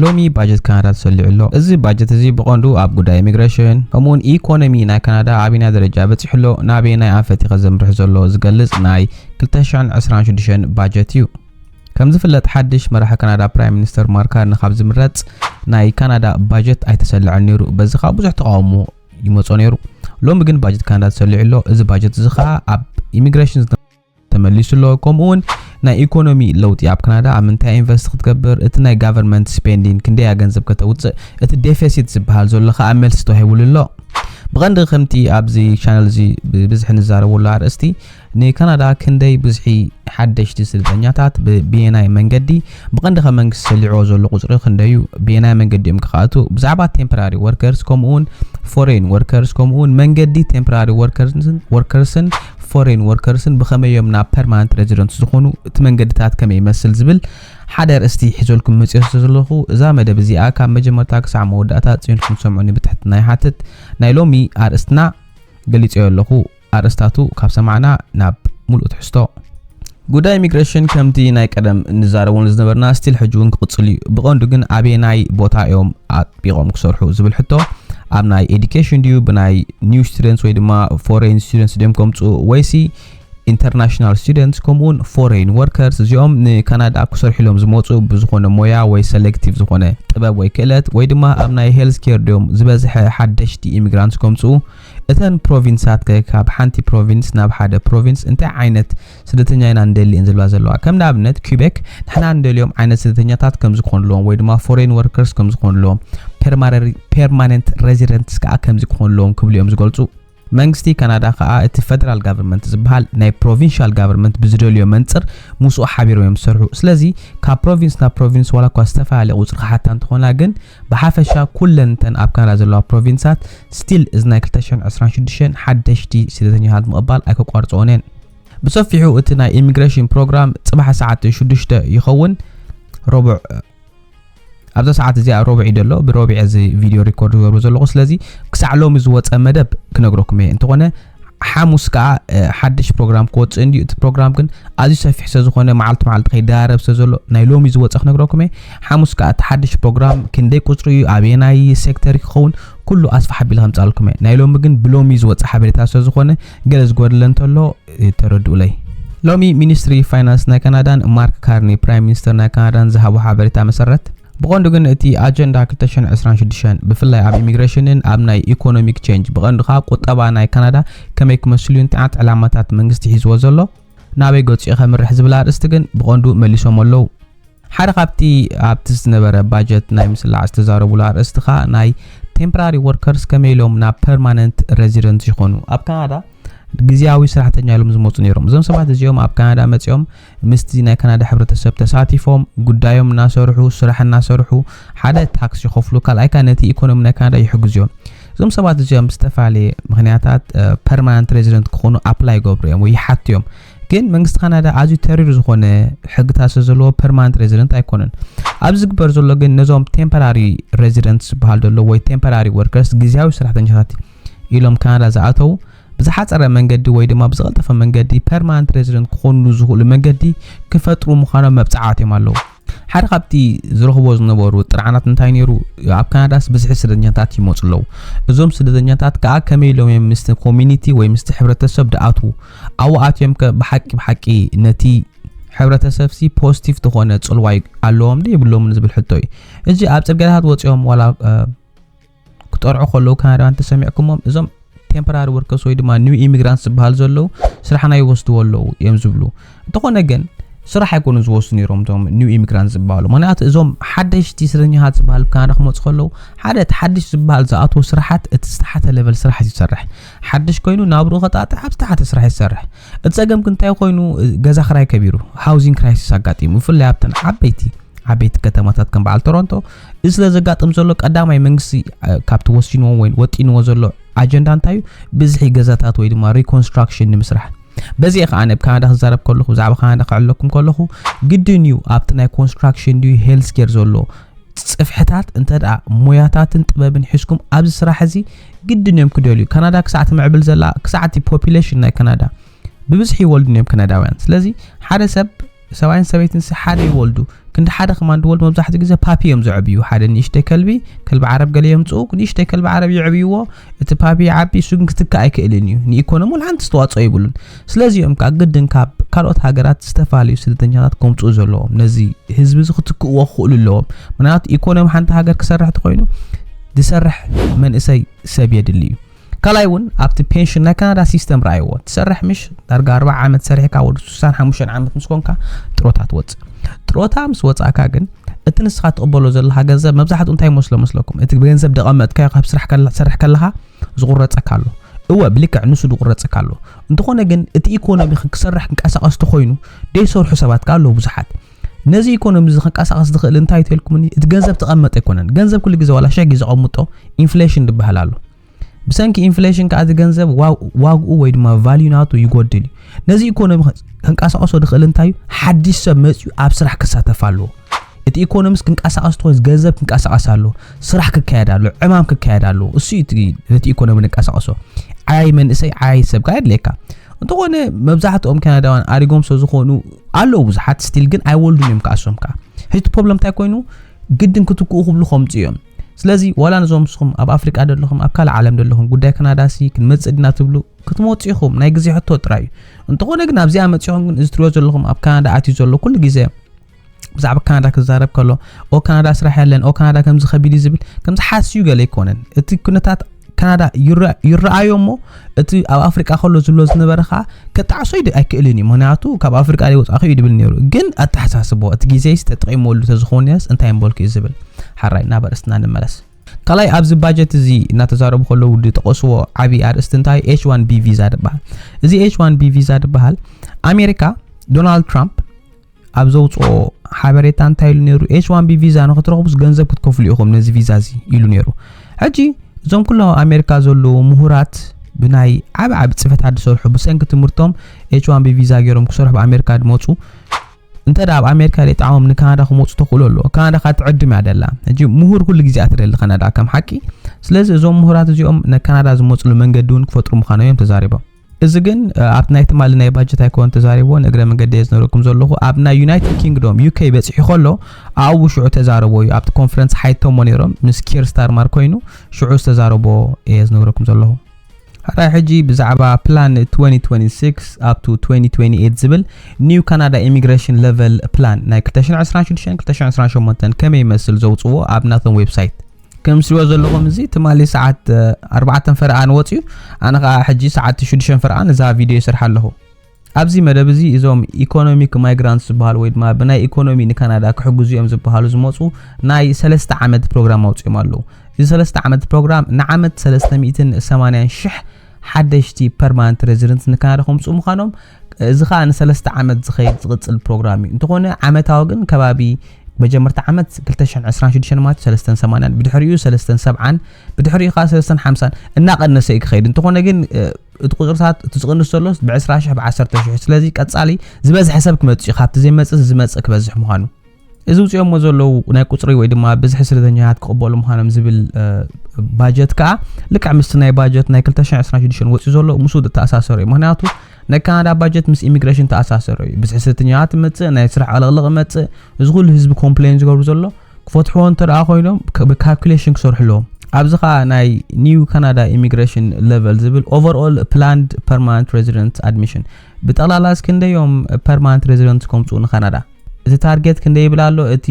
ሎሚ ባጀት ካናዳ ተሰሊዑ ኣሎ። እዚ ባጀት እዚ ብቐንዱ ኣብ ጉዳይ ኢሚግረሽን ከምኡውን ኢኮኖሚ ናይ ካናዳ ኣበየናይ ደረጃ በጺሑ ኣሎ፣ ናበየናይ ኣንፈት'ኸ ዘምርሕ ዘሎ ዝገልጽ ናይ ክልተ ሽሕን ዕስራን ሽዱሽተን ባጀት እዩ። ከም ዝፍለጥ ሓድሽ መራሒ ካናዳ ፕራይም ሚኒስተር ማርክ ካርኒ ካብ ዝምረጽ ናይ ካናዳ ባጀት ኣይተሰልዐን ነይሩ። በዚ ከኣ ብዙሕ ተቓውሞ ይመጾ ነይሩ። ሎሚ ግን ባጀት ካናዳ ተሰሊዑ ኣሎ። እዚ ባጀት እዚ ከኣ ኣብ ኢሚግረሽን ተመሊሱ ኣሎ ከምኡ ውን ናይ ኢኮኖሚ ለውጢ ኣብ ካናዳ ኣብ ምንታይ ኢንቨስት ክትገብር እቲ ናይ ጋቨርንመንት ስፔንዲን ክንደያ ገንዘብ ከተውፅእ እቲ ዴፌሲት ዝበሃል ዘሎ ከዓ መልሲ ተዋሂቡሉ ኣሎ ብቐንዲ ከምቲ ኣብዚ ቻነል እዚ ብብዝሒ ንዛረበሉ ኣርእስቲ ንካናዳ ክንደይ ብዝሒ ሓደሽቲ ስደተኛታት ብብየናይ መንገዲ ብቐንዲ ከም መንግስቲ ሰሊዕዎ ዘሎ ቁፅሪ ክንደዩ ብየናይ መንገዲ እዮም ክኸኣቱ ብዛዕባ ቴምፖራሪ ወርከርስ ከምኡውን ፎሬን ወርከርስ ከምኡውን መንገዲ ቴምፖራሪ ወርከርስን ፎሬን ወርከርስን ብኸመይ እዮም ናብ ፐርማነንት ረዚደንት ዝኾኑ፣ እቲ መንገድታት ከመይ ይመስል ዝብል ሓደ ኣርእስቲ ሒዘልኩም መጺኦ ስለ ዘለኹ እዛ መደብ እዚኣ ካብ መጀመርታ ክሳዕ መወዳእታ ጽዮንኩም ትሰምዑኒ ብትሕትና ይሓትት። ናይ ሎሚ ኣርእስትና ገሊጸዮ ኣለኹ፣ ኣርእስታቱ ካብ ሰማዕና ናብ ምሉእ ትሕዝቶ። ጉዳይ ኢሚግሬሽን ከምቲ ናይ ቀደም እንዛረበሉ ዝነበርና ስቲል ሕጂ እውን ክቕፅል እዩ። ብቐንዱ ግን ኣበየናይ ቦታ እዮም ኣጥቢቖም ክሰርሑ ዝብል ሕቶ ኣብ ናይ ኤዱኬሽን ድዩ ብናይ ኒው ስቱደንትስ ወይ ድማ ፎሬን ስቱደንትስ ድዮም ከምፅኡ ወይሲ ኢንተርናሽናል ስቱደንትስ ከምኡውን ፎሬን ወርከርስ እዚኦም ንካናዳ ክሰርሑ ኢሎም ዝመፁ ብዝኾነ ሞያ ወይ ሰሌክቲቭ ዝኾነ ጥበብ ወይ ክእለት ወይ ድማ ኣብ ናይ ሄልዝ ኬር ድዮም ዝበዝሐ ሓደሽቲ ኢሚግራንትስ ከምፅኡ እተን ፕሮቪንሳት ከ ካብ ሓንቲ ፕሮቪንስ ናብ ሓደ ፕሮቪንስ እንታይ ዓይነት ስደተኛ ኢና ንደሊ እየን ዝብላ ዘለዋ። ከም ንኣብነት ኲቤክ ንሕና ንደልዮም ዓይነት ስደተኛታት ከም ዝኮንልዎም ወይ ድማ ፎሬን ወርከርስ ከም ዝኮንልዎም ፔርማነንት ሬዚደንትስ ከኣ ከምዚ ክኮንልዎም ክብሉ እዮም ዝገልጹ። መንግስቲ ካናዳ ከኣ እቲ ፈደራል ጋቨርመንት ዝበሃል ናይ ፕሮቪንሻል ጋቨርመንት ብዝደልዮ መንጽር ምስኡ ሓቢሮም እዮም ዝሰርሑ። ስለዚ ካብ ፕሮቪንስ ናብ ፕሮቪንስ ዋላ እኳ ዝተፈላለየ ቁጽሪ ክሓታ እንተኾና ግን ብሓፈሻ ኩለን እተን ኣብ ካናዳ ዘለዋ ፕሮቪንሳት ስቲል እዚ ናይ ክልተ ሽሕን ዕስራን ሽዱሽተን ሓደሽቲ ስደተኛታት ምቕባል ኣይከቋርጽኦን እየን። ብሰፊሑ እቲ ናይ ኢሚግሬሽን ፕሮግራም ጽባሕ ሰዓት ሽዱሽተ ይኸውን ረቡዕ ኣብዛ ሰዓት እዚኣ ሮብዕ እዩ ዘሎ ብሮብዕ እዚ ቪድዮ ሪኮርድ ዝገብሮ ዘለኹ ስለዚ ክሳዕ ሎሚ ዝወፀ መደብ ክነግረኩም እየ እንተኾነ ሓሙስ ከኣ ሓድሽ ፕሮግራም ክወጽእ እንድዩ እቲ ፕሮግራም ግን ኣዝዩ ሰፊሕ ስለ ዝኾነ መዓልቲ መዓልቲ ከይደራረብ ስለ ዘሎ ናይ ሎሚ ዝወጸ ክነግረኩም እየ ሓሙስ ከኣ እቲ ሓድሽ ፕሮግራም ክንደይ ቁጽሪ እዩ ኣበየናይ ሴክተር እዩ ክኸውን ኩሉ ኣስፋሕ ኣቢለ ከምጻልኩም እየ ናይ ሎሚ ግን ብሎሚ ዝወጸ ሓበሬታ ስለ ዝኾነ ገለ ዝጎደለ እንተሎ ተረድኡለይ ሎሚ ሚኒስትሪ ፋይናንስ ናይ ካናዳን ማርክ ካርኒ ፕራይም ሚኒስተር ናይ ካናዳን ዝሃቦ ሓበሬታ መሰረት ብቐንዱ ግን እቲ ኣጀንዳ ክልተ ሽሕን ዕስራን ሽዱሽተን ብፍላይ ኣብ ኢሚግሬሽንን ኣብ ናይ ኢኮኖሚክ ቼንጅ ብቐንዱ ከኣ ቁጠባ ናይ ካናዳ ከመይ ክመስልዩ እንታይዓት ዕላማታት መንግስቲ ሒዝዎ ዘሎ ናበይ ገጹ ከምርሕ ዝብል ኣርእስቲ ግን ብቐንዱ መሊሶም ኣለዉ። ሓደ ካብቲ ኣብቲ ዝነበረ ባጀት ናይ ምስላዕ ዝተዛረቡሉ ኣርእስቲ ከኣ ናይ ቴምፕራሪ ወርከርስ ከመይ ኢሎም ናብ ፐርማነንት ረዚደንት ይኾኑ ኣብ ካናዳ ግዝያዊ ስራሕተኛ ኢሎም ዝመፁ ነይሮም እዞም ሰባት እዚኦም ኣብ ካናዳ መፂኦም ምስቲ ናይ ካናዳ ሕብረተሰብ ተሳቲፎም ጉዳዮም እናሰርሑ ስራሕ እናሰርሑ ሓደ ታክስ ይኸፍሉ ካልኣይ ካኣ ነቲ ኢኮኖሚ ናይ ካናዳ ይሕግዙ እዮም እዞም ሰባት እዚኦም ብዝተፈላለየ ምክንያታት ፐርማናንት ሬዚደንት ክኾኑ ኣፕላይ ይገብሩ እዮም ወይ ይሓቱ እዮም ግን መንግስቲ ካናዳ ኣዝዩ ተሪር ዝኾነ ሕግታት ስለ ዘለዎ ፐርማናንት ሬዚደንት ኣይኮነን ኣብ ዝግበር ዘሎ ግን ነዞም ቴምፖራሪ ሬዚደንት ዝበሃል ዘሎ ወይ ቴምፖራሪ ወርከርስ ግዜያዊ ሰራሕተኛታት ኢሎም ካናዳ ዝኣተው ብዝሓጸረ መንገዲ ወይ ድማ ብዝቐልጠፈ መንገዲ ፐርማንት ሬዚደንት ክኾንሉ ዝኽእሉ መንገዲ ክፈጥሩ ምዃኖም መብጽዓ ኣትዮም ኣለዉ። ሓደ ካብቲ ዝረኽቦ ዝነበሩ ጥርዓናት እንታይ ነይሩ? ኣብ ካናዳስ ብዝሒ ስደተኛታት ይመጹ ኣለዉ። እዞም ስደተኛታት ከኣ ከመይ ኢሎም እዮም ምስቲ ኮሚኒቲ ወይ ምስቲ ሕብረተሰብ ድኣትዉ? ኣብኡ ኣትዮም ከ ብሓቂ ብሓቂ ነቲ ሕብረተሰብሲ ፖዚቲቭ ዝኾነ ጽልዋ ኣለዎም ዶ የብሎምን ዝብል ሕቶ እዩ። ሕጂ ኣብ ጽርግያታት ወጺኦም ዋላ ክጠርዑ ከለዉ ካናዳውያን እንተሰሚዕኩሞም እዞም ቴምፖራሪ ወርከስ ወይ ድማ ኒው ኢሚግራንት ዝበሃል ዘለዉ ስራሕና ይወስድዎ ኣለዉ እዮም ዝብሉ እንተኾነ ግን ስራሕ ኣይኮኑ ዝወስዱ ነይሮም እቶም ኒው ኢሚግራንት ዝበሃሉ ምክንያቱ እዞም ሓደሽቲ ስረኛታት ዝበሃል ካናዳ ክመፁ ከለዉ ሓደ እቲ ሓድሽ ዝበሃል ዝኣትዎ ስራሓት እቲ ዝተሓተ ሌቨል ስራሕ እዩ ዝሰርሕ ሓድሽ ኮይኑ ናብርኡ ከጣጥ ኣብ ዝተሓተ ስራሕ እዩ ዝሰርሕ እቲ ፀገም ግን እንታይ ኮይኑ ገዛ ክራይ ከቢሩ ሃውዚንግ ክራይሲስ ኣጋጢሙ ብፍላይ ኣብተን ዓበይቲ ዓበይቲ ከተማታት ከም በዓል ቶሮንቶ እዚ ስለ ዘጋጥም ዘሎ ቀዳማይ መንግስቲ ካብቲ ወሲንዎ ወይ ወጢንዎ ዘሎ ኣጀንዳ እንታይ እዩ ብዝሒ ገዛታት ወይ ድማ ሪኮንስትራክሽን ንምስራሕ በዚ እየ ከዓ ኣብ ካናዳ ክዛረብ ከለኹ ብዛዕባ ካናዳ ክዕለኩም ከለኹ ግድን እዩ ኣብቲ ናይ ኮንስትራክሽን ድዩ ሄልስ ኬር ዘሎ ፅፍሕታት እንተ ደኣ ሞያታትን ጥበብን ሒዝኩም ኣብዚ ስራሕ እዚ ግድን እዮም ክደልዩ ካናዳ ክሳዕ ትምዕብል ዘላ ክሳዕ እቲ ፖፕሌሽን ናይ ካናዳ ብብዝሒ ይወልድን እዮም ካናዳውያን ስለዚ ሓደ ሰብ ሰብኣይን ሰበይትንሲ ሓደ ይወልዱ ክንዲ ሓደ ከማን ድወልዱ መብዛሕትኡ ግዜ ፓፒ እዮም ዘዕብዩ ሓደ ንእሽተይ ከልቢ ከልቢ ዓረብ ገለ የምፅኡ ንእሽተይ ከልቢ ዓረብ የዕብይዎ እቲ ፓፒ ይዓቢ እሱ ግን ክትካእ ኣይክእልን እዩ ንኢኮኖሚ እውን ሓንቲ ዝተዋፅኦ ይብሉን ስለዚ እዮም ከዓ ግድን ካብ ካልኦት ሃገራት ዝተፈላለዩ ስደተኛታት ከምፅኡ ዘለዎም ነዚ ህዝቢ እዚ ክትክእዎ ክኽእሉ ኣለዎም ምክንያቱ ኢኮኖሚ ሓንቲ ሃገር ክሰርሕ ተኮይኑ ዝሰርሕ መንእሰይ ሰብ የድሊ እዩ ካልኣይ ውን ኣብቲ ፔንሽን ናይ ካናዳ ሲስተም ረኣይዎ ትሰርሕ ምሽ ዳርጋ ኣርባዓ ዓመት ሰሪሕካ ወዲ ስሳን ሓሙሽተን ዓመት ምስ ኮንካ ጥሮታ ትወፅእ ጥሮታ ምስ ወፃእካ ግን እቲ ንስኻ ትቕበሎ ዘለኻ ገንዘብ መብዛሕትኡ እንታይ መስሎ መስለኩም እቲ ገንዘብ ደቐመጥካዮ ካብ ስራሕ ትሰርሕ ከለኻ ዝቑረፀካ ኣሎ እወ ብልክዕ ንሱ ዝቑረፀካ ኣሎ እንተኾነ ግን እቲ ኢኮኖሚ ክሰርሕ ክንቀሳቐስ ተኾይኑ ደይሰርሑ ሰባት ከ ኣለዉ ብዙሓት ነዚ ኢኮኖሚ እዚ ከንቀሳቐስ ዝኽእል እንታይ እዩ ተልኩምኒ እቲ ገንዘብ ተቐመጠ ኣይኮነን ገንዘብ ኩሉ ግዜ ዋላ ሸሕ ግዜ ቐምጦ ኢንፍሌሽን ዝበሃል ኣሎ ብሰንኪ ኢንፍሌሽን ከዓ እቲ ገንዘብ ዋግኡ ወይ ድማ ቫልዩ ናቱ ይጎድል እዩ ነዚ ኢኮኖሚ ከንቀሳቐሶ ዝኽእል እንታይ እዩ ሓድሽ ሰብ መፅኡ ኣብ ስራሕ ክሳተፍ ኣለዎ እቲ ኢኮኖሚስ ክንቀሳቐስ ትኾይስ ገንዘብ ክንቀሳቐስ ኣለዎ ስራሕ ክካየድ ኣለዎ ዕማም ክካየድ ኣለዎ እሱ እዩ ነቲ ኢኮኖሚ ንቀሳቐሶ ዓያይ መንእሰይ ዓያይ ሰብ ከዓ የድልየካ እንተኾነ መብዛሕትኦም ካናዳውያን ኣሪጎም ስለዝኾኑ ኣለዉ ብዙሓት ስቲል ግን ኣይወልዱን እዮም ከዓ እሶም ከዓ ሕጂ እቲ ፕሮብለም እንታይ ኮይኑ ግድን ክትክኡ ክብሉ ከምፁ እዮም ስለዚ ዋላ ነዞም ንስኹም ኣብ ኣፍሪቃ ዘለኹም ኣብ ካልእ ዓለም ዘለኹም ጉዳይ ከናዳሲ ክንመፅእ ድና ትብሉ ክትመፁ ኢኹም ናይ ግዜ ሕቶ ጥራይ እዩ እንተኾነ ግን ኣብዚኣ መፂኹም ግን እዚ ትሪኦ ዘለኹም ኣብ ካናዳ ኣትዩ ዘሎ ኩሉ ግዜ ብዛዕባ ካናዳ ክዛረብ ከሎ ኦ ካናዳ ስራሕ ያለን ኦ ካናዳ ከምዚ ከቢድ እዩ ዝብል ከምዚ ሓስዩ ገለ ኣይኮነን እቲ ኩነታት ካናዳ ይረኣዮ እሞ እቲ ኣብ ኣፍሪቃ ከሎ ዝብሎ ዝነበረ ከዓ ክጣዕሶ ኣይክእልን እዩ ምክንያቱ ካብ ኣፍሪቃ ዘይወፃእኹ እዩ ድብል ነይሩ ግን ኣተሓሳስቦ እቲ ግዜ ተጠቂመሉ ተዝኸውን ነርስ እንታይ ምበልኩ እዩ ዝብል ሓራይ ናብ ኣርእስትና ንመለስ ካልኣይ ኣብዚ ባጀት እዚ እናተዛረቡ ከለዉ ዝጠቐስዎ ዓብዪ ኣርእስቲ እንታይ ኤች ዋን ቢ ቪዛ ዝበሃል እዚ ኤች ዋን ቢ ቪዛ ዝበሃል ኣሜሪካ ዶናልድ ትራምፕ ኣብ ዘውጽኦ ሓበሬታ እንታይ ኢሉ ነይሩ ኤች ዋን ቢ ቪዛ ንክትረኽቡስ ገንዘብ ክትከፍሉ ኢኹም ነዚ ቪዛ እዚ ኢሉ ነይሩ ሕጂ እዞም ኩሎም ኣብ ኣሜሪካ ዘለዉ ምሁራት ብናይ ዓብ ዓብ ጽፈታት ዝሰርሑ ብሰንኪ ትምህርቶም ኤች ዋን ቢ ቪዛ ገይሮም ክሰርሑ ኣብ ኣሜሪካ ድመፁ እንተ ኣብ ኣሜሪካ ዘይጣዕሞም ንካናዳ ክመፁ ተኽእሎ ኣለዎ ካናዳ ካ ትዕድም እያ ደላ ሕጂ ምሁር ኩሉ ግዜ እያ ትደሊ ካናዳ ከም ሓቂ ስለዚ እዞም ምሁራት እዚኦም ንካናዳ ዝመፅሉ መንገዲ እውን ክፈጥሩ ምዃኖም እዮም ተዛሪቦም እዚ ግን ኣብቲ ናይ ትማሊ ናይ ባጀት ኣይኮነን ተዛሪብዎ ንእግረ መንገዲ እየ ዝነግረኩም ዘለኹ ኣብ ናይ ዩናይትድ ኪንግዶም ዩከይ በፂሑ ከሎ ኣብኡ ሽዑ ተዛረቦ እዩ ኣብቲ ኮንፈረንስ ሓይቶሞ ነይሮም ምስ ኪር ስታርማር ኮይኑ ሽዑ ዝተዛረቦ እየ ዝነግረኩም ዘለኹ ሓራይ ሕጂ ብዛዕባ ፕላን 2026 ኣብቱ 2028 ዝብል ኒው ካናዳ ኢሚግሬሽን ለቨል ፕላን ናይ 226 228 ከመይ ይመስል ዘውፅዎ ኣብ ናቶም ዌብሳይት ከምስልዎ ዘለኹም እዚ ትማሊ ሰዓት ኣርባዕተን ፈረቓን ወጽዩ ኣነ ከኣ ሕጂ ሰዓት ሽዱሽተን ፈረቓን እዛ ቪድዮ ይሰርሓ ኣለኹ። ኣብዚ መደብ እዚ እዞም ኢኮኖሚክ ማይግራንትስ ዝበሃሉ ወይ ድማ ብናይ ኢኮኖሚ ንካናዳ ክሕግዙ እዮም ዝበሃሉ ዝመጹ ናይ ሰለስተ ዓመት ፕሮግራም ኣውጽኦም ኣለዉ። እዚ ሰለስተ ዓመት ፕሮግራም ንዓመት ሰለስተ ሚእትን ሰማንያን ሽሕ ሓደሽቲ ፐርማነንት ሬዚደንት ንካናዳ ከምጽኡ ምዃኖም እዚ ከኣ ንሰለስተ ዓመት ዝኸይድ ዝቕጽል ፕሮግራም እዩ። እንተኾነ ዓመታዊ ግን ከባቢ መጀመርታ ዓመት ክልተ ሽሕን ዕስራን ሽዱሽተን ማለት እዩ ሰለስተን ሰማንያን ብድሕሪኡ ሰለስተን ሰብዓን ብድሕሪኡ ከኣ ሰለስተን ሓምሳን እናቐነሰ እዩ ክኸይድ። እንተኾነ ግን እ፣ እቲ ቁጽርታት እቲ ዝቕንስ ዘሎስ ብዕስራ ሽሕ ብዓሰርተ ሽሕ እዩ። ስለዚ ቀጻሊ ዝበዝሐ ሰብ ክመጽእ እዩ። ካብቲ ዘይመጽእ እዚ ዝመጽእ ክበዝሕ ምዃኑ እዚ ውፅኦሞ ዘለዉ ናይ ቁፅሪ ወይ ድማ ብዝሒ ስደተኛታት ክቕበሉ ምዃኖም ዝብል ባጀት ከዓ ልክዕ ምስቲ ናይ ባጀት ናይ 226 ወፂኡ ዘሎ ምስኡ ዝተኣሳሰሩ እዩ ምክንያቱ ናይ ካናዳ ባጀት ምስ ኢሚግሬሽን ተኣሳሰሩ እዩ ብዝሒ ስደተኛታት ይመፅእ ናይ ስራሕ ዕልቕልቕ ይመፅእ እዚ ኩሉ ህዝቢ ኮምፕሌን ዝገብሩ ዘሎ ክፈትሕዎ እንተ ደኣ ኮይኖም ብካልኩሌሽን ክሰርሑ ኣለዎም ኣብዚ ከዓ ናይ ኒው ካናዳ ኢሚግሬሽን ሌቨል ዝብል ኦቨርኦል ፕላንድ ፐርማነንት ሬዚደንት ኣድሚሽን ብጠቕላላ እስክንደዮም ፐርማነንት ሬዚደንት ከምፅኡ ንካናዳ እቲ ታርጌት ክንደይ ይብል ኣሎ እቲ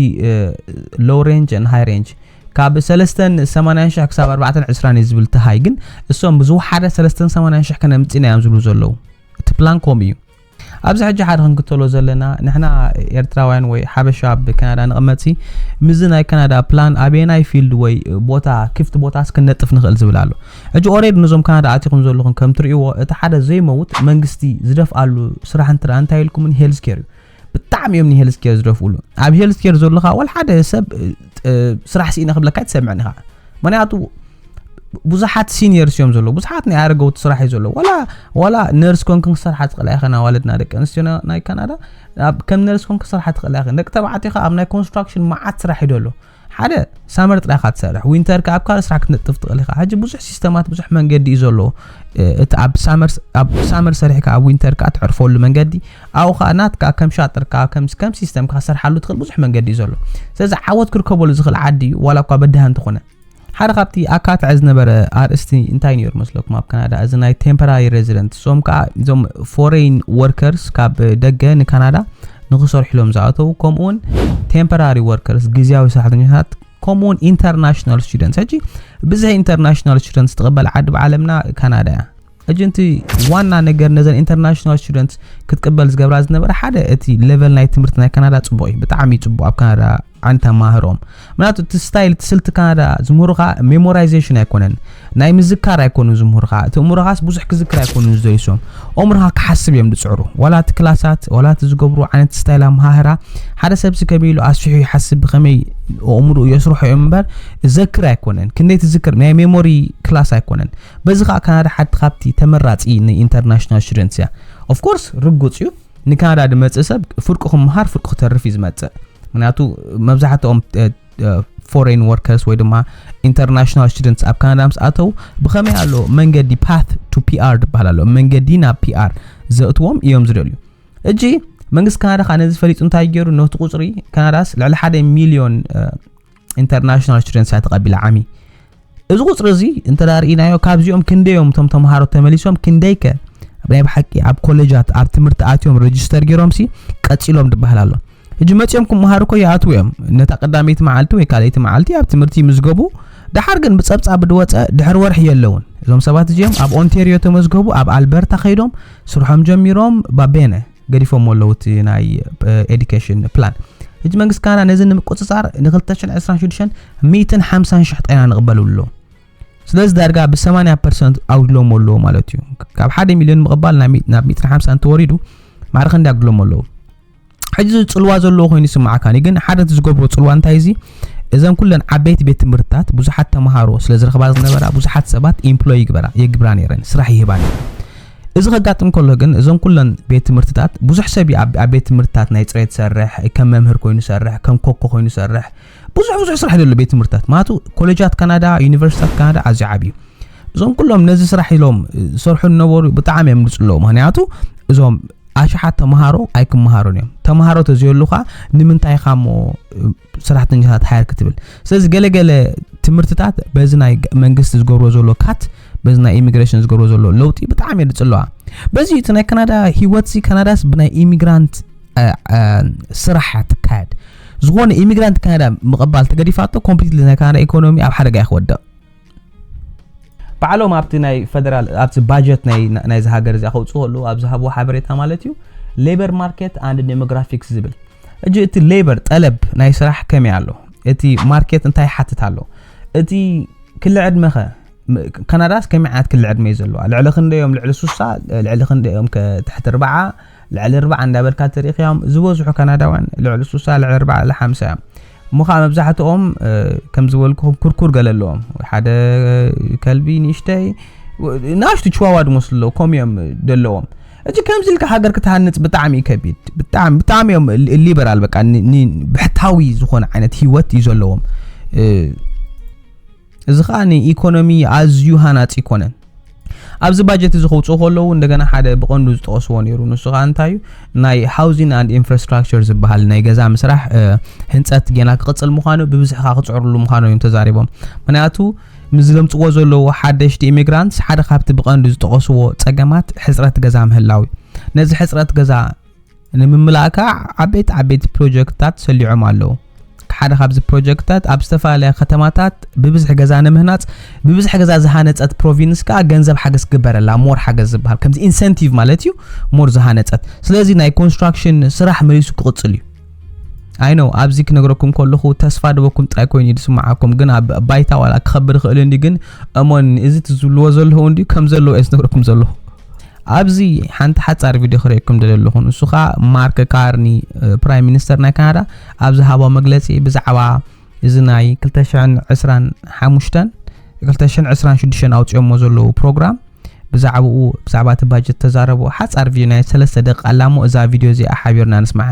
ሎው ሬንጅ ን ሃይ ሬንጅ ካብ ሰለስተን ሰማንያን ሽሕ ክሳብ ኣርባዕተን ዕስራን እዩ ዝብል ተሃይ ግን እሶም ብዝወሓደ ሰለስተን ሰማንያን ሽሕ ከነምፅእና እዮም ዝብሉ ዘለዉ እቲ ፕላን ከምኡ እዩ ኣብዚ ሕጂ ሓደ ክንክተሎ ዘለና ንሕና ኤርትራውያን ወይ ሓበሻ ኣብ ካናዳ ንቕመፅሲ ምዚ ናይ ካናዳ ፕላን ኣበየናይ ፊልድ ወይ ቦታ ክፍቲ ቦታ እስክነጥፍ ንኽእል ዝብል ኣሎ ሕጂ ኦሬድ ነዞም ካናዳ ኣቲኹም ዘለኹም ከም ትርእይዎ እቲ ሓደ ዘይመውት መንግስቲ ዝደፍኣሉ ስራሕ እንትርኣ እንታይ ኢልኩምን ሄልዝ ኬር እዩ ብጣዕሚ እዮም ንሄልዝ ኬር ዝደፍኡሉ ኣብ ሄልዝ ኬር ዘለኻ ወል ሓደ ሰብ ስራሕ ስኢነ ክብለካ ኣይትሰምዕን ኢኻ ምክንያቱ ብዙሓት ሲኒየርስ እዮም ዘለዉ ብዙሓት ናይ ኣረገውቲ ስራሕ እዩ ዘለዉ ዋላ ዋላ ነርስ ኮንክ ክሰርሓ ትኽእላ ኢኸን ኣዋልድና ደቂ ኣንስትዮ ናይ ካናዳ ከም ነርስ ኮንክ ክሰርሓ ትኽእላ ኢኸን ደቂ ተባዕትዮ ኣብ ናይ ኮንስትራክሽን መዓት ስራሕ እዩ ደሎ ሓደ ሳመር ጥራይ ኢኻ ትሰርሕ ዊንተር ከኣ ኣብ ካልእ ስራሕ ክትነጥፍ ትኽእል ኢኻ ሕጂ ብዙሕ ሲስተማት ብዙሕ መንገዲ እዩ ዘሎ እቲ ኣብ ሳመር ኣብ ሳመር ሰሪሕካ ኣብ ዊንተር ከኣ ትዕርፈሉ መንገዲ ኣብኡ ከኣ ናትካ ከም ሻጥርካ ከም ከም ሲስተምካ ክትሰርሓሉ ትኽእል ብዙሕ መንገዲ እዩ ዘሎ ስለዚ ዓወት ክርከበሉ ዝኽእል ዓዲ እዩ ዋላ እኳ በድሃ እንተኾነ ሓደ ካብቲ ኣካትዐ ዝነበረ ኣርእስቲ እንታይ ነይሩ መስለኩም ኣብ ካናዳ እዚ ናይ ቴምፖራሪ ሬዚደንት እዞም ከዓ እዞም ፎሬን ወርከርስ ካብ ደገ ንካናዳ ንክሰርሕሎም ዝኣተዉ ከምኡ ውን ቴምፐራሪ ወርከርስ ግዝያዊ ሰራሕተኛታት ከምኡ ውን ኢንተርናሽናል ስቱደንትስ ሕጂ ብዝሒ ኢንተርናሽናል ስቱደንትስ ትቕበል ዓዲ ብዓለምና ካናዳ እያ ሕጂ እቲ ዋና ነገር ነዘን ኢንተርናሽናል ስቱደንት ክትቅበል ዝገብራ ዝነበረ ሓደ እቲ ሌቨል ናይ ትምህርቲ ናይ ካናዳ ፅቡቅ እዩ ብጣዕሚ ፅቡቅ ኣብ ካናዳ ዓን ተማህሮም ምናቱ እቲ ስታይል እቲ ስልቲ ካናዳ ዝምህሩኻ ሜሞራይዜሽን ኣይኮነን ናይ ምዝካር ኣይኮኑ ዝምህሩኻ እቲ እምሮኻስ ብዙሕ ክዝክር ኣይኮኑ ዝደልሶም ኦምሮኻ ክሓስብ እዮም ዝፅዕሩ ዋላ እቲ ክላሳት ዋላ እቲ ዝገብሩ ዓይነት ስታይል ኣምሃህራ ሓደ ሰብሲ ከመይ ኢሉ ኣስፊሑ ይሓስብ ብኸመይ ኣእምሮኡ የስርሖ እዮም እምበር ዘክር ኣይኮነን ክንደይ ትዝክር ናይ ሜሞሪ ክላስ ኣይኮነን በዚ ከዓ ካናዳ ሓንቲ ካብቲ ተመራፂ ንኢንተርናሽናል ስቱደንትስ እያ ኦፍኮርስ ርጉፅ እዩ ንካናዳ ዝመጽእ ሰብ ፍርቁ ክመሃር ፍርቁ ክተርፍ እዩ ዝመጽእ ምክንያቱ መብዛሕትኦም ፎሬን ወርከርስ ወይ ድማ ኢንተርናሽናል ስቱደንትስ ኣብ ካናዳ ምስ ኣተው ብኸመይ ኣሎ መንገዲ ፓት ቱ ፒኣር ዝበሃል ኣሎ መንገዲ ናብ ፒኣር ዘእትዎም እዮም ዝደልዩ እጂ መንግስቲ ካናዳ ከዓ ነዚ ፈሊጡ እንታይ ገይሩ ነቲ ቁፅሪ ካናዳስ ልዕሊ ሓደ ሚሊዮን ኢንተርናሽናል ስቱደንትስ እያ ተቐቢላ ዓሚ እዚ ቁፅሪ እዚ እንተ ርኢናዮ ካብዚኦም ክንደዮም እቶም ተምሃሮ ተመሊሶም ክንደይ ከ ናይ ብሓቂ ኣብ ኮሌጃት ኣብ ትምህርቲ ኣትዮም ረጅስተር ገይሮም ሲ ቀፂሎም ድበሃል ኣሎ እጂ መፅኦም ክምሃሩ ኮ ይኣትዉ እዮም ነታ ቀዳመይቲ መዓልቲ ወይ ካልኣይቲ መዓልቲ ኣብ ትምህርቲ ይምዝገቡ ድሓር ግን ብፀብፃብ ድወፀ ድሕሪ ወርሒ የለውን እዞም ሰባት እዚኦም ኣብ ኦንቴርዮ ተመዝገቡ ኣብ ኣልበርታ ከይዶም ስርሖም ጀሚሮም ባቤነ ገዲፎሞ ኣለዉ እቲ ናይ ኤዱኬሽን ፕላን ሕጂ መንግስቲ ካናዳ ነዚ ንምቁፅፃር ን226 150 ሽሕ ጣይና ንቕበሉ ኣሎ ስለዚ ዳርጋ ብ80 ፐርሰንት ኣጉድሎሞ ኣለዎ ማለት እዩ ካብ 1 ሚልዮን ምቕባል ናብ 150 እንተወሪዱ ማዕረ ክንዲ ኣጉድሎሞ ኣለዎ ሕጂ ዝፅልዋ ዘለዎ ኮይኑ ይስማዓካኒ ግን ሓደ እቲ ዝገብሮ ፅልዋ እንታይ እዚ እዘን ኩለን ዓበይቲ ቤት ትምህርትታት ብዙሓት ተምሃሮ ስለ ዝረኽባ ዝነበራ ብዙሓት ሰባት ኢምፕሎይ ይግበራ የግብራ ነይረን ስራሕ ይህባ ነይረን እዚ ከጋጥም ከሎ ግን እዞም ኩለን ቤት ትምህርትታት ብዙሕ ሰብ እዩ ኣብ ቤት ትምህርትታት ናይ ፅሬት ዝሰርሕ ከም መምህር ኮይኑ ዝሰርሕ ከም ኮኮ ኮይኑ ዝሰርሕ ብዙሕ ብዙሕ ስራሕ ዘሎ ቤት ትምህርትታት ማለቱ ኮሌጃት ካናዳ ዩኒቨርሲታት ካናዳ ኣዝዩ ዓብዩ እዞም ኩሎም ነዚ ስራሕ ኢሎም ዝሰርሑ ዝነበሩ ብጣዕሚ እዮም ዝፅለዉ ምክንያቱ እዞም ኣሽሓት ተምሃሮ ኣይክምሃሩን እዮም ተምሃሮ ተዘየሉካ ንምንታይ ኢኻ እሞ ሰራሕተኛታት ሓየር ክትብል ስለዚ ገለገለ ትምህርትታት በዚ ናይ መንግስቲ ዝገብሮ ዘሎ ካት በዚ ናይ ኢሚግሬሽን ዝገብሮ ዘሎ ለውጢ ብጣዕሚ እየ ዝፅለዋ በዚ እቲ ናይ ካናዳ ሂወት ሲ ካናዳስ ብናይ ኢሚግራንት ስራሕ ትካየድ ዝኾነ ኢሚግራንት ካናዳ ምቕባል ተገዲፋቶ ኮምፕሊትሊ ናይ ካናዳ ኢኮኖሚ ኣብ ሓደጋ ይክወድቕ ባዕሎም ኣብቲ ናይ ፈደራል ኣብቲ ባጀት ናይዚ ሃገር እዚኣ ከውፅኡ ከለዉ ኣብ ዝሃብዎ ሓበሬታ ማለት እዩ ሌበር ማርኬት ኣንድ ዴሞግራፊክስ ዝብል እጂ እቲ ሌበር ጠለብ ናይ ስራሕ ከመይ ኣሎ እቲ ማርኬት እንታይ ይሓትት ኣሎ እቲ ክሊ ዕድመኸ ካናዳስ ከመይ ዓይነት ክሊ ዕድመ እዩ ዘለዋ ልዕሊ ክንደዮም ልዕሊ ሱሳ ልዕሊ ክንደዮም ትሕቲ ርባዓ ልዕሊ ርባዓ እንዳበልካ ትሪኢኽዮም ዝበዝሑ ካናዳውያን ልዕሊ ሱሳ ልዕሊ ርባዓ ልሓምሳ እዮም እሞ ኸኣ መብዛሕትኦም ከም ዝበልኩኹም ኩርኩር ገለ ኣለዎም ወይ ሓደ ከልቢ ንእሽተይ ናሽቱ ችዋዋ ድመስሉ ኣለዉ ከምኡ እዮም ዘለዎም እጂ ከምዚ ኢልካ ሃገር ክትሃንፅ ብጣዕሚ እዩ ከቢድ ብጣዕሚ ብጣዕሚ እዮም ሊበራል በቃ ብሕታዊ ዝኾነ ዓይነት ሂወት እዩ ዘለዎም እዚ ከኣ ንኢኮኖሚ ኣዝዩ ሃናጺ ኣይኮነን። ኣብዚ ባጀት እዚ ከውጽኡ ከለዉ እንደገና ሓደ ብቐንዱ ዝጠቐስዎ ነይሩ ንሱ ከኣ እንታይ እዩ ናይ ሃውዚን ኣንድ ኢንፍራስትራክቸር ዝበሃል ናይ ገዛ ምስራሕ ህንጸት ጌና ክቕጽል ምዃኑ ብብዝሒ ከኣ ክጽዕርሉ ምዃኑ እዮም ተዛሪቦም ምክንያቱ ምስ ዘምጽዎ ዘለዉ ሓደሽቲ ኢሚግራንትስ ሓደ ካብቲ ብቐንዱ ዝጠቐስዎ ጸገማት ሕጽረት ገዛ ምህላው እዩ ነዚ ሕጽረት ገዛ ንምምላእ ከኣ ዓበይቲ ዓበይቲ ፕሮጀክትታት ሰሊዖም ኣለዉ። ሓደ ካብዚ ፕሮጀክትታት ኣብ ዝተፈላለያ ከተማታት ብብዝሒ ገዛ ንምህናጽ ብብዝሒ ገዛ ዝሃነጸት ፕሮቪንስ ከኣ ገንዘብ ሓገዝ ክግበረላ ሞር ሓገዝ ዝበሃል ከምዚ ኢንሰንቲቭ ማለት እዩ ሞር ዝሃነጸት ስለዚ ናይ ኮንስትራክሽን ስራሕ መሊሱ ክቕጽል እዩ ኣይ ነው ኣብዚ ክነግረኩም ከለኹ ተስፋ ድበኩም ጥራይ ኮይኑ እዩ ዝስምዓኩም ግን ኣብ ባይታ ዋላ ክኸብር ይኽእል እንዲ ግን እሞን እዚ ትዝብልዎ ዘለኹ እንዲ ከም ዘለዎ እየ ዝነግረኩም ዘለኹ ኣብዚ ሓንቲ ሓጻር ቪድዮ ክርእየኩም ደለ ኣለኹ ንሱ ከኣ ማርክ ካርኒ ፕራይም ሚኒስተር ናይ ካናዳ ኣብ ዝሃቦ መግለጺ ብዛዕባ እዚ ናይ 225 226 ኣውጺኦሞ ዘለዉ ፕሮግራም ብዛዕባኡ ብዛዕባ እቲ ባጀት ተዛረቡ ሓጻር ቪድዮ ናይ ሰለስተ ደቂ ኣላሞ እዛ ቪድዮ እዚኣ ሓቢርና ንስማዓ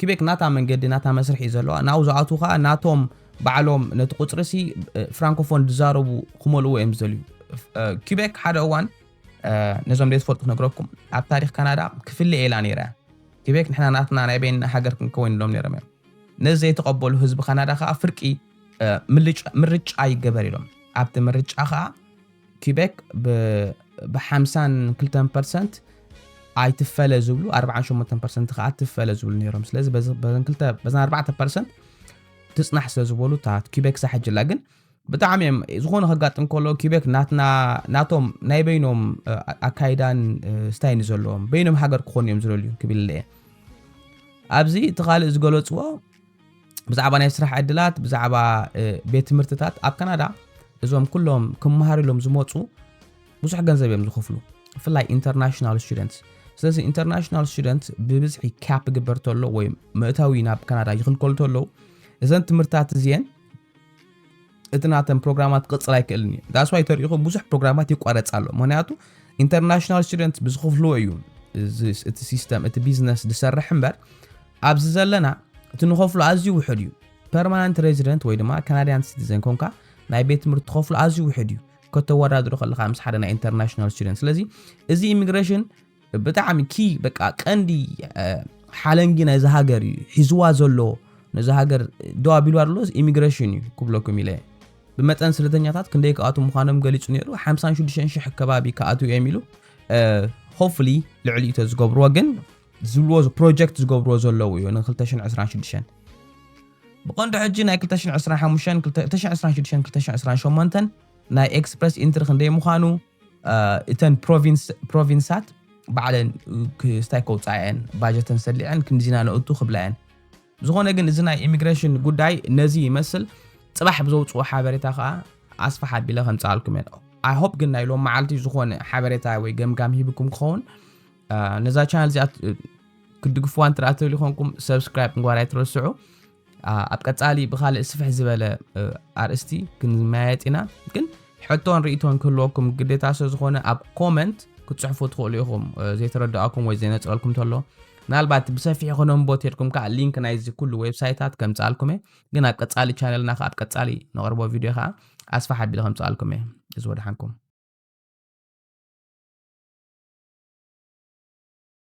ኪቤክ ናታ መንገዲ ናታ መስርሕ እዩ ዘለዋ ናብኡ ዝኣትዉ ከኣ ናቶም ባዕሎም ነቲ ቁጽሪሲ ፍራንኮፎን ዝዛረቡ ክመልእዎ እዮም ዝደልዩ ኪቤክ ሓደ እዋን ነዞም ዘይትፈልጡ ክነግረኩም ኣብ ታሪኽ ካናዳ ክፍለ ኤላ ነይራ ኪቤክ ንሕና ናትና ናይ በይንና ሃገር ክንከወን ኢሎም ነይሮም እዮም ነዚ ዘይተቐበሉ ህዝቢ ካናዳ ከኣ ፍርቂ ምርጫ ይገበር ኢሎም ኣብቲ ምርጫ ከኣ ኲበክ ብ ብ ሓምሳን ክልተን ፐርሰንት ኣይትፈለ ዝብሉ ኣርብዓን ሸሞንተን ፐርሰንት ከኣ ትፈለ ዝብሉ ነይሮም ስለዚ በዚ- በዘን ክልተ በዘን ኣርባዕተ ፐርሰንት ትጽናሕ ስለ ዝበሉ እታ ኲበክ ሳሕጅላ ግን ብጣዕሚ እዮም ዝኾነ ከጋጥም ከሎ ኲበክ ናትና ናቶም ናይ በይኖም እ፣ ኣካይዳን እ፣ ስታይን ዘለዎም በይኖም ሃገር ክኾኑ እዮም ዝደልዩ ክብል እየ ኣብዚ እቲ ካልእ ዝገለጽዎ ብዛዕባ ናይ ስራሕ ዕድላት ብዛዕባ ቤት ትምህርትታት ኣብ ካናዳ እዞም ኩሎም ክመሃሩ ኢሎም ዝመፁ ብዙሕ ገንዘብ እዮም ዝኽፍሉ ብፍላይ ኢንተርናሽናል ስቱደንት ስለዚ ኢንተርናሽናል ስቱደንት ብብዝሒ ካፕ ግበር ተሎ ወይ ምእታዊ ናብ ካናዳ ይኽልከሉ ተለዉ እዘን ትምህርትታት እዚአን እቲ ናተን ፕሮግራማት ክቕጽል ኣይክእልን እዩ ዳስ ዋይ ተሪኢኹም ብዙሕ ፕሮግራማት ይቋረጽ ኣሎ ምክንያቱ ኢንተርናሽናል ስቱደንት ብዝኽፍልዎ እዩ እቲ ሲስተም እቲ ቢዝነስ ዝሰርሕ እምበር ኣብዚ ዘለና እቲ ንኸፍሎ ኣዝዩ ውሕድ እዩ ፐርማናንት ሬዚደንት ወይ ድማ ካናድያን ሲቲዘን ኮንካ ናይ ቤት ትምህርቲ ትኸፍሎ ኣዝዩ ውሕድ እዩ ከተወዳድሮ ከለካ ምስ ሓደ ናይ ኢንተርናሽናል ስቱደንት ስለዚ እዚ ኢሚግሬሽን ብጣዕሚ ኪ በቃ ቀንዲ ሓለንጊ ናይዚ ሃገር እዩ ሒዝዋ ዘሎ ነዚ ሃገር ደው ኣቢሉ ኣሎ ኢሚግሬሽን እዩ ክብለኩም ኢለ ብመጠን ስደተኛታት ክንደይ ክኣትው ምዃኖም ገሊጹ ነይሩ 56 ሽሕ ከባቢ ክኣትው እዮም ኢሉ ሆፍሊ ልዕሊ እቶ ዝገብርዎ ግን ዝብልዎ ፕሮጀክት ዝገብርዎ ዘለዉ እዩ ን226 ብቐንዱ ሕጂ ናይ 225 226 228 ናይ ኤክስፕረስ ኢንትሪ ክንደይ ምዃኑ እተን ፕሮቪንሳት ባዕለን ክስታይ ከውፅኣ እየን ባጀተን ሰሊዐን ክንድዚ ኢና ነእቱ ክብላ እየን ዝኾነ ግን እዚ ናይ ኢሚግሬሽን ጉዳይ ነዚ ይመስል ፅባሕ ብዘውፅኦ ሓበሬታ ከዓ ኣስፋሕ ኣቢለ ከምፅኣልኩም እየ ኣይ ሆፕ ግን ናይ ሎም መዓልቲ ዝኾነ ሓበሬታ ወይ ገምጋም ሂብኩም ክኸውን ነዛ ቻናል እዚኣ ክትድግፍዋ እንትርኣ ትብል ይኾንኩም ሰብስክራይብ ንጓር ኣይትረስዑ ኣብ ቀጻሊ ብኻልእ ስፍሕ ዝበለ ኣርእስቲ ክንመያየጥ ኢና ግን ሕቶን ርእቶን ክህልወኩም ግዴታ ስለ ዝኾነ ኣብ ኮመንት ክትጽሕፉ ትኽእሉ ኢኹም ዘይተረድኣኩም ወይ ዘይነጽረልኩም ተሎ ምናልባት ብሰፊሑ ክነንቦ ተድኩም ከዓ ሊንክ ናይዚ ኩሉ ዌብሳይታት ከምጽኣልኩም እየ ግን ኣብ ቀጻሊ ቻነልና ከዓ ኣብ ቀጻሊ ነቕርቦ ቪድዮ ከዓ ኣስፋሕ ኣቢለ ከምጽኣልኩም እየ እዚ ወድሓንኩም